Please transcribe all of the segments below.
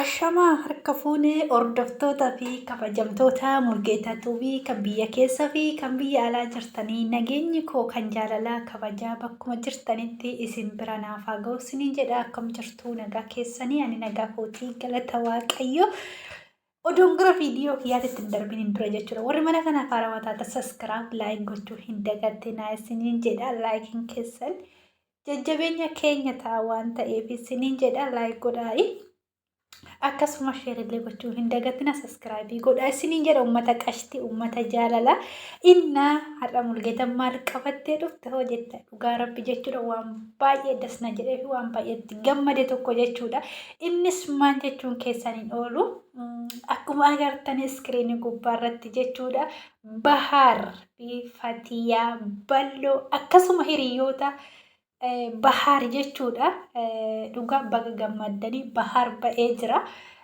Ashamaa harka fuunee hordoftoota fi kabajamtoota Mulgeetaa Tuubii kan biyya keessa fi kan biyya alaa jirtanii nageenyi koo kan jaalalaa kabajaa bakkuma jirtanitti isin bira naaf haa ga'u isiniin jedha akkam jirtu nagaa keessanii ani nagaa kootii galata waaqayyo Odoon gara viidiyoo kiyyaatti ittiin darbiin hin dura jechuudha. Warri mana kanaaf haarawaa taata saskiraaf laayiin gochuu hin dagatinaa isiniin jedha laayikiin keessan jajjabeenya keenya ta'a waan ta'eef isiniin jedha laayik godhaa'i. Akkasuma sheerillee gochuu hin dagatina saskiraayibii godhaa isiniin jedha uummata qashti uummata jaalala innaa har'a mulgeetan maal qabattee dhufte hoo jettan. Dhugaa rabbi jechuudha waan baay'ee das na jedhee fi waan baay'ee itti gammade tokko jechuudha. Innis maal jechuun keessan hin oolu. Mm, Akkuma agartan iskiriinii gubbaa irratti jechuudha. Bahaar fi Fatiyaa Balloo akkasuma hiriyoota eh, Bahaar jechuudha. Eh, Dhugaa baga gammaddanii Bahaar ba'ee jira.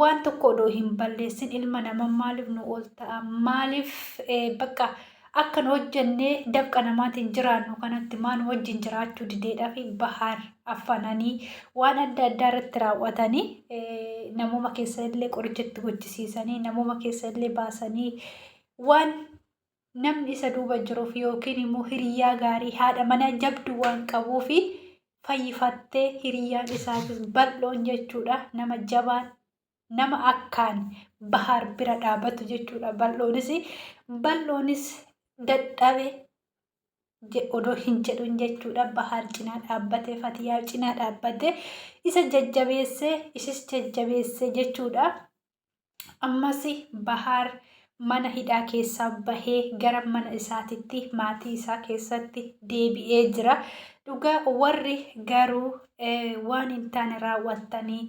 waan tokko odoo hin balleessin ilma nama maaliif nu oolta'a maaliif bakka akkan hojjennee dafqa namaatiin jiraannu kanatti maa nu wajjin jiraachuu dideedhaa fi bahaar affananii waan adda addaa irratti raawwatanii namooma keessa illee qoricha itti gochisiisanii namooma keessa illee baasanii waan namni isa duuba jiruuf yookiin immoo hiriyyaa gaarii haadha manaa jabdu waan qabuuf fayyifattee hiriyyaan isaatis bal'oon jechuudha nama jabaan nama akkaan bahaar bira dhaabatu jechuudha bal'oonis bal'oonis dadhabe odoo hin jedhuun jechuudha bahaar cinaa dhaabbatee fatiyaa cinaa dhaabbatee isa jajjabeessee isis jajjabeessee jechuudha. Ammas Bahaar mana hidhaa keessaa bahee gara mana isaatitti maatii isaa keessatti deebi'ee jira. Dhugaa warri garuu waan hin taane raawwattanii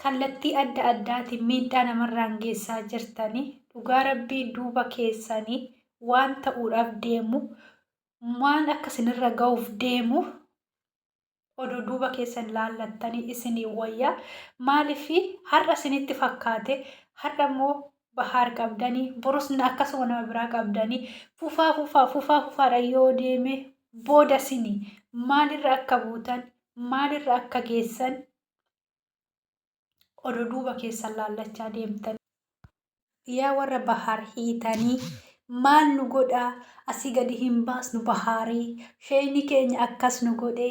kallattii adda addaatiin miidhaa namarraan geessaa jirtanii dhugaa rabbii duuba keessanii waan ta'uudhaaf deemu waan akka sinirra ga'uuf deemu odoo duuba keessan laallattanii isinii wayya. Maaliif har'a isinitti fakkaate har'a immoo Bahaar qabdanii borus akkasuma nama biraa qabdanii fufaa fufaa fufaa fufaadha yoo deeme booda isinii maalirra akka buutan maalirra akka geessan odo duuba keessan laallachaa deemtan. Yaa warra bahaar hiitanii maal nu godhaa asii gadi hin baasnu bahaarii sheeyni keenya akkas nu godhee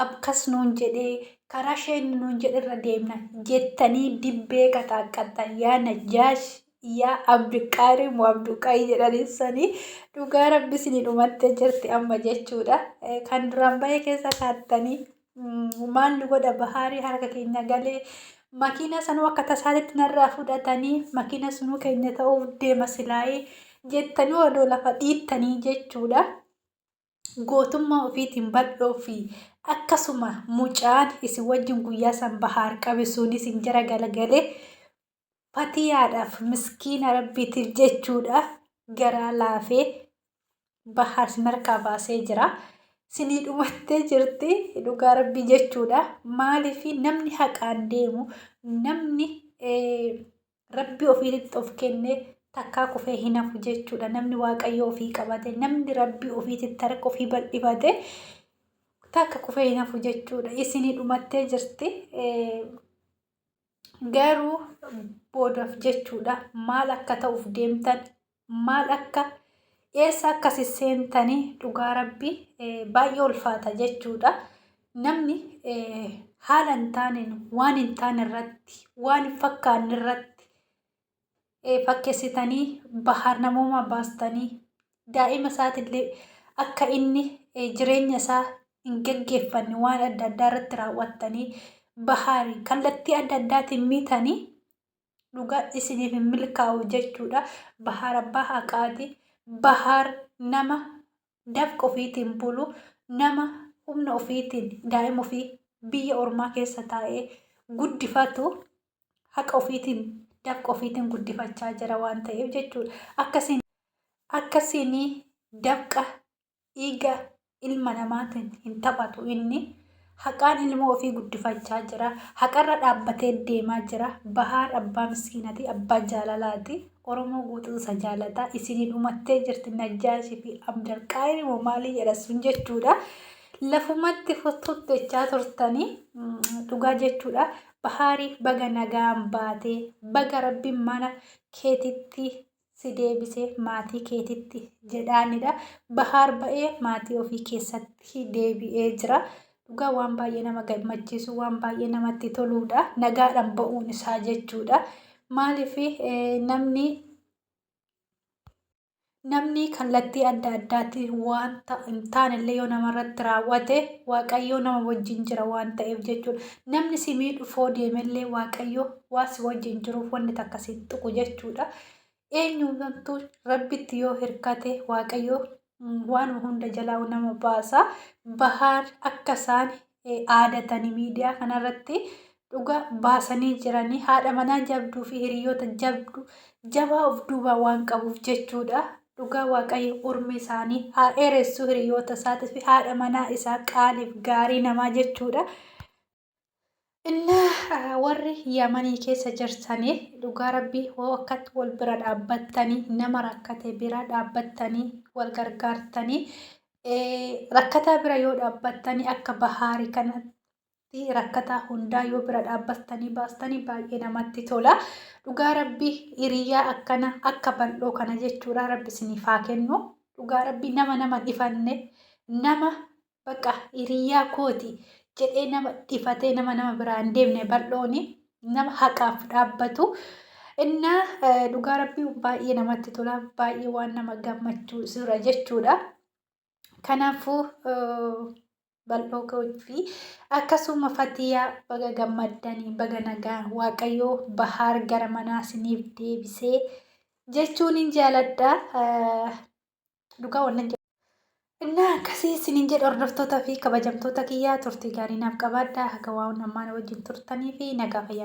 akkas nuun jedhee karaa sheeyni nuun jedherra deemna jettanii dibbee qaxaaqqattan yaa najjaash yaa abduqaarii moo abduqaayii jedhaniin sanii dhugaa rabbi isinii dhumattee jirti amma jechuudha kan duraan bahee keessa taattanii maalli godha bahaarii harka keenya galee makiina sanuu akka tasaatitti narraa fudhatanii makiina sunuu keenya ta'uuf deema silaayee jettanii odoo lafa dhiittanii jechuudha. Gootummaa ofiitiin bal'oo fi akkasuma mucaan isin wajjin guyyaa san bahaar qabe sunis injera galagalee fatiyaadhaaf miskiina rabbiitiif jechuudha garaa laafee bahaa isin harkaa baasee jira. Sinii dhumattee jirti dhugaa rabbii jechuudha. Maaliif namni haqaan deemu namni rabbii ofiitti of kennee takkaa kufee hin hafu jechuudha. Namni waaqayyo ofii qabate namni rabbii ofiitti harka ofii bal'ifate takka kufee hin hafu jechuudha. Isinii dhumattee jirti. garuu boodaf jechuudha maal akka ta'uuf deemtan maal akka eessa akkasi seentanii dhugaa rabbii baay'ee ulfaata jechuudha namni haala hin taaneen waan hin taane irratti waan hin fakkaanne irratti fakkessitanii bahaar namoomaa baastanii daa'ima isaatiillee akka inni jireenya isaa hin gaggeeffanne waan adda addaa irratti raawwattanii bahaari kallattii adda addaatiin miitanii dhugaa isiniif hin milkaa'u jechuudha. Bahaar abbaa haqaati. Bahaar nama dafqa ofiitiin bulu nama humna ofiitiin daa'ima ofii biyya ormaa keessa taa'ee guddifatu haqa ofiitiin dafqa ofiitiin guddifachaa jira waan ta'eef jechuudha. Akkasiin akkasiin dafqa dhiiga ilma namaatiin hin taphatu inni haqaan ilmoo ofii guddifachaa jira. Haqarra dhaabbatee deemaa jira. Bahaar abbaa miskiinati abbaa jaalalaati. Oromoo guutuu isa jaalataa isinii dhumattee jirti Najjaashii fi Abdal Qaayir moo maalii jedha sun jechuudha. Lafumatti futtuutti jechaa turtanii dhugaa jechuudha. Bahaariif baga nagaan baate baga rabbi mana keetitti si deebise maatii keetitti jedhaanidha bahaar ba'ee maatii ofii keessatti deebi'ee jira dhugaa waan baay'ee nama gammachiisu waan baay'ee namatti toluudha nagaadhaan ba'uun isaa jechuudha maaliif namni Namni kallattii adda addaatiin wanta hin taanellee yoo namarratti raawwate Waaqayyoo nama wajjin jira waan ta'eef jechuudha. Namni si miidhufoo deemellee Waaqayyoo waan si wajjin jiruuf wanni takka si hin tuqu jechuudha. Eenyuutu rabbitti yoo hirkate Waaqayyoo waanuma hunda jalaa nama baasa. Bahaar akka isaan aadatanii miidiyaa kanarratti dhuga baasanii jiranii haadha manaa jabduu fi hiriyoota jabdu jabaa of duubaa waan qabuuf jechuudha. Dhugaa waaqayyo urmi isaanii haa dheeressu hiriyoota isaatii fi haadha manaa isaa qaaliif gaarii namaa jechuudha. Innaa warri Yamanii keessa jirtaniif dhugaa rabbii hoo akkatti wal bira dhaabbattanii nama rakkate bira dhaabbattanii wal gargaartanii Rakkataa bira yoo dhaabbattanii akka bahaarii kanatti rakkataa hundaa yoo bira dhaabbattanii baastanii baay'ee namatti tola. Dhugaa rabbi hiriyaa akkana akka bal'oo kana jechuudha rabbi isiniif haa kennu. Dhugaa rabbi nama nama dhifanne nama baqa hiriyaa kooti jedhee nama dhifatee nama nama biraan deemne bal'ooni. nama haqaaf dhaabbatu innaa eh, dhugaa rabbii baay'ee namatti tola baay'ee waan nama gammachuu jira jechuudha. Kanaafuu eh, bal'oo koo fi akkasuma fatiyaa baga gammaddanii baga nagaa waaqayyoo bahaar gara manaa isiniif deebisee jechuun hin jaaladha. Eh, dhugaa wallan jedha. Innaa akkasii isiniin jedha hordoftoota fi kabajamtoota kiyyaa turtii gaarii naaf qabaadha. Haga waa'uun ammaana wajjin turtanii fi nagaa fayyaana.